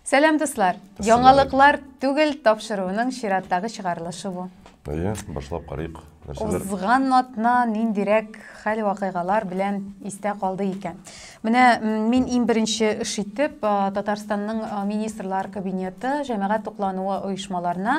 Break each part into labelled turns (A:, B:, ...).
A: Сәлам дуслар! Яңалыклар түгел тапшыруының чираттагы чыгарылышы бу. Әйе, башлап
B: карыйк. Нәрсәләр? Узган
A: атна ниндирәк хәл вакыйгалар белән истә калды икән. Менә мин иң беренче эш итеп Татарстанның министрлар кабинеты җәмәгать туклануы оешмаларына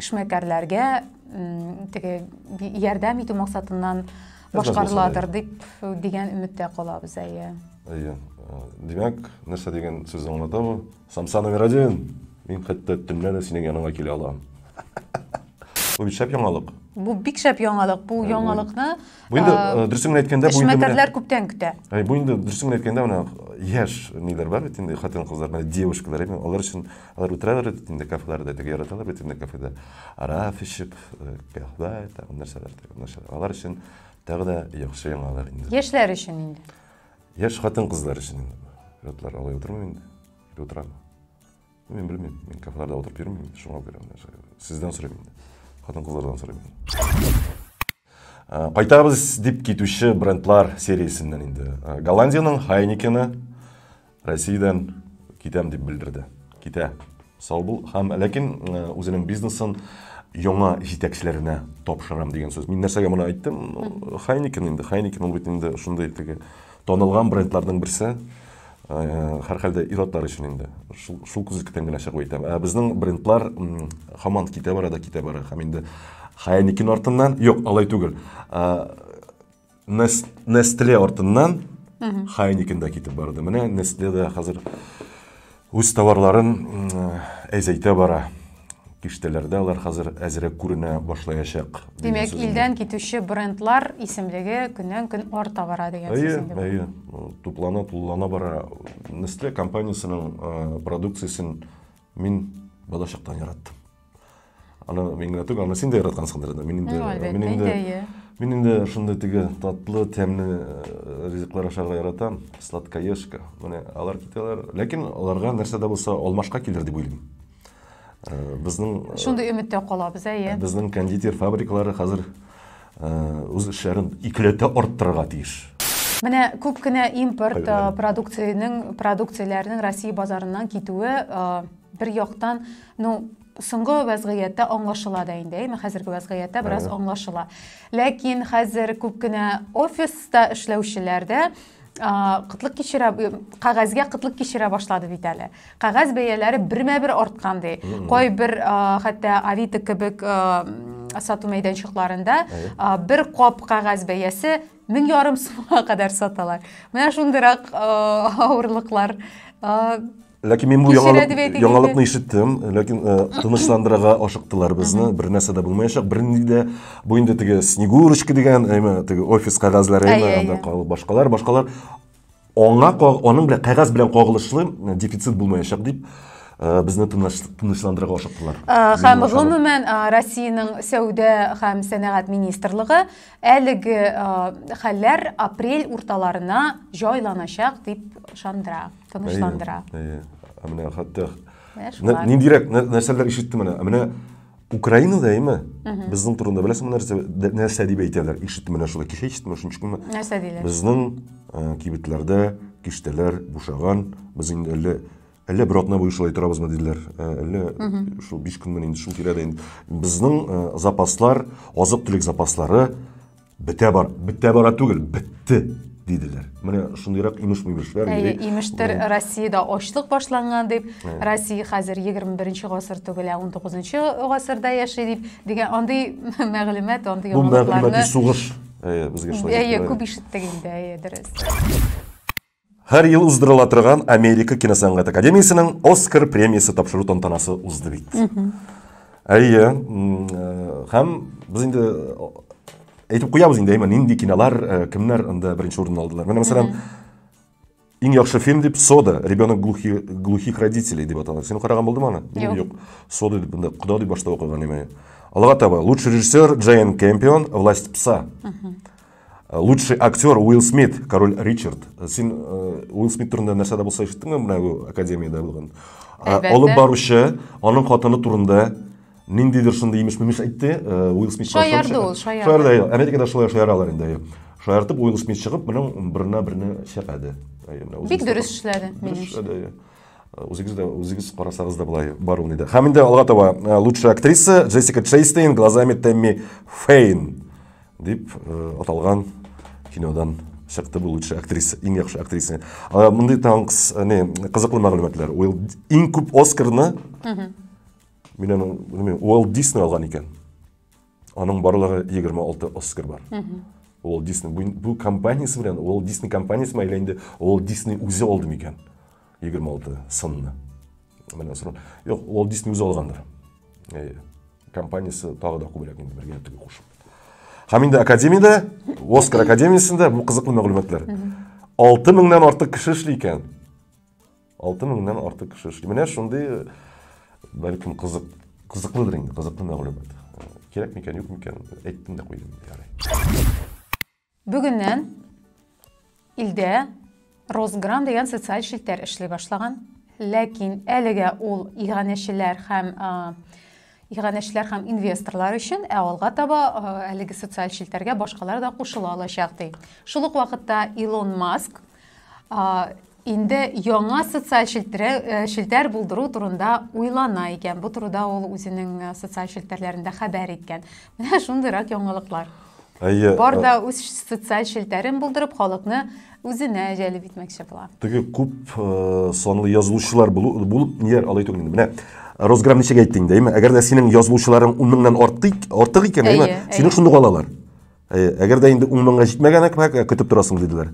A: эшмәкәрләргә теге ярдәм итү максатыннан башкарыладыр дип дигән өметтә калабыз әйе әйе димәк
B: нәрсә дигән сүз аңлата бу самса номер один мин хәтта төнлә дә синең яныңа килә алам бу бит шәп яңалык бу бик шәп яңалык
A: бу яңалыкны бу инде
B: дөресен генә әйткәндә бу эшмәкәрләр күптән көтә
A: бу инде дөресен генә
B: әйткәндә менә яшь ниләр бар бит инде хатын кызлар девушкалар алар өчен Алар утыралар бит инде кафеларда, теге яраталар бит инде кафеда. Араф эчеп, кафе, тагын нәрсәләр, тагын нәрсәләр. Алар өчен тагы да яхшы яңалар инде. Яшьләр өчен инде.
A: Яшь хатын-кызлар
B: өчен инде. Ятлар алай утырмый инде. Или утырам. Мин белмим, мин кафеларда утырып йөрмим, шуңа күрә менә сездән сорыйм инде. Хатын-кызлардан сорыйм. Э, кайтабыз дип китүче брендлар сериясеннән инде. Э, Голландиянең Хайникены Россиядән китәм дип белдерде. Китә. Сау бул. Һәм ләкин э, үзенең бизнесын яңа җитәкчеләренә тапшырам дигән сүз. Мин нәрсәгә моны әйттем? Хайникен инде. Хайникен ул бит инде шундый теге Танылган брендларның берсе, һәрхәлдә ир-атлар өчен инде. Шул, шул күзлектән генә чыгып әйтәм. Ә безнең брендлар һаман китә бара да китә бара. Һәм инде Хайникин артыннан, юк, алай түгел. Nestle артыннан Хайникин да китеп барды. Менә Nestle дә хәзер Үз товарларын әзәйтә бара. Киштәләрдә алар хәзер әзрәк күренә башлаячак. Димәк, илдән
A: китүче брендлар исемлеге көннән-көн арта бара дигән сүз инде. Әйе, әйе. Туплана, тулылана
B: бара. Nestle компаниясенең продукциясен мин балачактан яраттым. аны мин генә түгел аны син дә яраткансыңдыр инде мин инде мин инде мин инде шундый теге татлы тәмле э, ризыклар ашарга яратам сладкоежка менә алар китәләр ләкин аларга нәрсә дә булса алмашка килер дип уйлыйм э, безнең э, шундый өметтә
A: калабыз әйе безнең кондитер
B: фабрикалары хәзер үз эшләрен икеләтә арттырырга тиеш Менә күп
A: кенә импорт продукциянең продукцияләрнең Россия базарыннан китүе Бер яктан, ну, соңгы вәзгыятьтә аңлашыла да инде, әйме, хәзерге вәзгыятьтә бераз аңлашыла. Ләкин хәзер күп кенә офиста эшләүчеләр дә кытлык кичерә кәгазьгә кытлык кичерә башлады бит әле кәгазь бәяләре бермә бер арткан ди кайбер хәтта авито кебек сату мәйданчыкларында бер кап кәгазь бәясе мең ярым сумга кадәр саталар менә шундыйрак авырлыклар
B: Ләкин мин бу яңалыкны ишеттем, ләкин э, тынычландырырга ашыктылар безне, бер нәрсә дә булмаячак. Бернинди дә бу инде теге Снегурочка дигән, әйме, теге офис кагазлары, әйме, анда калып башкалар, башкалар аңа аның белән кагаз белән кагылышлы э, дефицит булмаячак дип э, безне тынычландырырга ашыктылар. Һәм гомумән
A: Россиянең сәүдә һәм сәнәгать министрлыгы әлеге хәлләр апрель урталарына җайланачак дип ышандыра. тынычландыра ә менә
B: хәтта ниндирәк нәрсәләр ишеттем менә менә украинада яме безнең турында беләсеңме нәрсә нәрсә дип әйтәләр ишеттем менә шулай кеше ишеттем шуның өчен нәрсә диләр безнең
A: э,
B: кибетләрдә киштәләр бушаган без инде әллә әллә бер атна буе шулай торабызмы диделәр э, әллә шул биш көнмен инде шул тирәдә инде безнең э, запаслар азык төлек запаслары Бетә бар, бетә бара түгел, бетте диделәр. Менә шундыйрак имеш-мимешләр йөри. Имештер
A: Россиядә ачлык башланган дип, Россия хәзер 21 гасыр түгел, ә 19 гасырда яши дип дигән андый мәгълүмат, андый яңалыкларны. Бу мәгълүмати сугыш.
B: Әйе, безгә шулай. Әйе, күп ишеттек инде,
A: әйе, дөрес.
B: Һәр ел уздырыла торган Америка киносәнгать академиясенең Оскар премиясе тапшыру тантанасы узды бит. Әйе, һәм без инде әйтеп куябыз инде, әйме, нинди кинолар, э, кемнәр анда беренче урынны алдылар. Менә мәсәлән, иң яхшы фильм дип Сода, ребенок глухи, глухих родителей дип атала. Син караган булдымы аны? Юк. Юк. Сода дип инде кода дип башта укыган име. Алга таба лучший режиссер Джейн Кемпион, Власть пса. Э, лучший актер Уилл Смит, король Ричард. Э, син э, Уилл Смит турында нәрсәдә булса ишеттеңме менә бу академиядә булган? Алып баручы, аның хатыны турында ниндидер шундый имеш мимеш әйтте, Уилл Смит шаярды ул, шаярды.
A: Шаярды, Америкада шулай
B: шаяралар инде. Шаяртып Уилл Смит чыгып, моның беренә берне шәпәде. Бик дөрес
A: эшләде, минемчә. Үзегез дә
B: үзегез карасагыз да болай бар ул иде. Һәм инде алга таба лучшая актриса Джессика Чейстейн глазами Тэмми Фейн. Дип аталган кинодан чыкты бу лучшая актриса, иң яхшы актриса. Мондый танкс, не, кызыклы мәгълүматлар. Уилл иң күп Оскарны Мин аны, белмим, Уилл Дисней алган икән. Аның барлыгы 26 Оскар бар. Уилл Дисней бу компаниясе белән, Уилл Дисней компаниясе мәйләнде, Уилл Дисней үзе алды микән? Егерме алты сынны. Менә сорау. Юк, Walt Disney үзе алгандыр. Әйе. Компаниясе тагы да күбрәк инде бергә тегү кушып. Һәм инде академиядә, Оскар академиясендә бу кызыклы мәгълүматлар. 6000-нан артык кеше эшли икән. 6000-нан артык кеше эшли. Менә шундый бәлкем кызык кызыклыдыр инде, кызыклы мәгълүмат. Кирәкме икән, юкмы икән, әйттем дә куйдым. Ярый.
A: Бүгеннән илдә Росграм дигән социаль челтәр эшли башлаган. Ләкин әлегә ул иганәчеләр һәм иганәчеләр һәм инвесторлар өчен, ә алга таба әлеге социаль челтәргә башкалар да кушыла алачак ди. Шул ук вакытта Илон Маск инде яңа социаль э, челтәр булдыру турында уйлана икән бу турыда ул үзенең э, социаль челтәрләрендә хәбәр иткән менә шундыйрак яңалыклар әйе бар да үз социаль челтәрен булдырып халыкны үзенә җәлеп итмәкче була теге күп
B: э, санлы язылучылар булып ниләр алай түгел менә росграм ничек әйттең дәйме әгәр дә синең язылучыларың ун меңнән артык икән әйме сине шундук алалар Э, әгәр дә инде ун меңгә җитмәгән әкмәк ә, көтеп торасың диделәр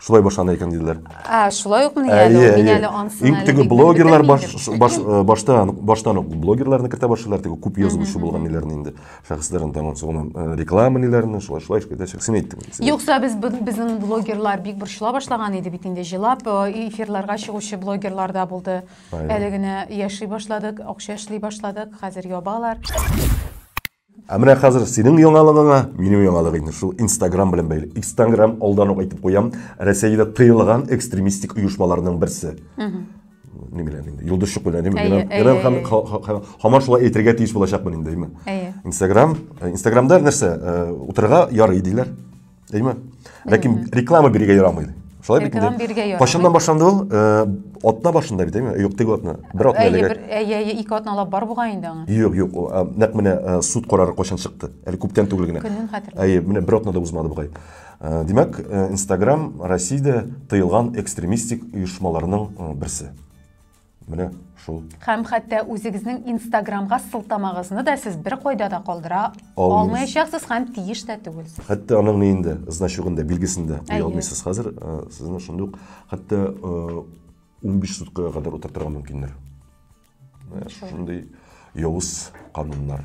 B: шулай башлана икән диделәр ә шулай ук мин әле
A: ә, мин әле ансын иң теге блогерлар
B: баш, баш, э, баштан баштан ук блогерларны кертә башлыйлар теге күп язучы булган ниләрне инде шәхесләрен там соңынан э, реклама ниләрне шулай шулай итәчәк син әйттең юкса без
A: безнең блогерлар бик борчыла башлаган иде бит инде җылап эфирларга чыгучы блогерлар да булды әле генә яши башладык акча эшли башладык хәзер ябалар
B: Ә менә хәзер синең яңалыгыңа минем яңалык инде шул Инстаграм белән бәйле. Инстаграм алдан ук әйтеп куям, Рәсәйдә тыелган экстремистик оешмаларның берсе. Ни белән инде? Йолдызчык белән, димме? Генә һаман шулай әйтергә тиеш булачакмын инде, димме? Инстаграм, Инстаграмда нәрсә? Утырырга ярый диләр. Әйме? Ләкин реклама бирергә ярамый. Шулай бит инде. Биргә ярамый. Кашыннан башланды ул, э, атна башында бит, әйме? Юк, теге атна. Бер атна әлегә. Әйе, әйе, ике атна алып бар булган
A: инде аңа. Юк, юк, э, нәкъ
B: менә э, суд карары кайчан чыкты? Әле күптән түгел генә. Көнен хәтерләмим. Әйе, менә бер
A: атна да узмады бугай.
B: Э, димәк, Инстаграм Россиядә тыелган экстремистик оешмаларның берсе. Менә шул. Һәм хәтта
A: үзегезнең инстаграмга сылтамагызны да сез бер кайда да калдыра алмаячаксыз һәм тиеш тә түгел. Хәтта аның ни инде,
B: значогында, билгесендә куя алмыйсыз. Хәзер э, сезне шундый ук хәтта 15 э, суткага кадәр утыртырга мөмкиннәр. Э, шундый явыз кануннар.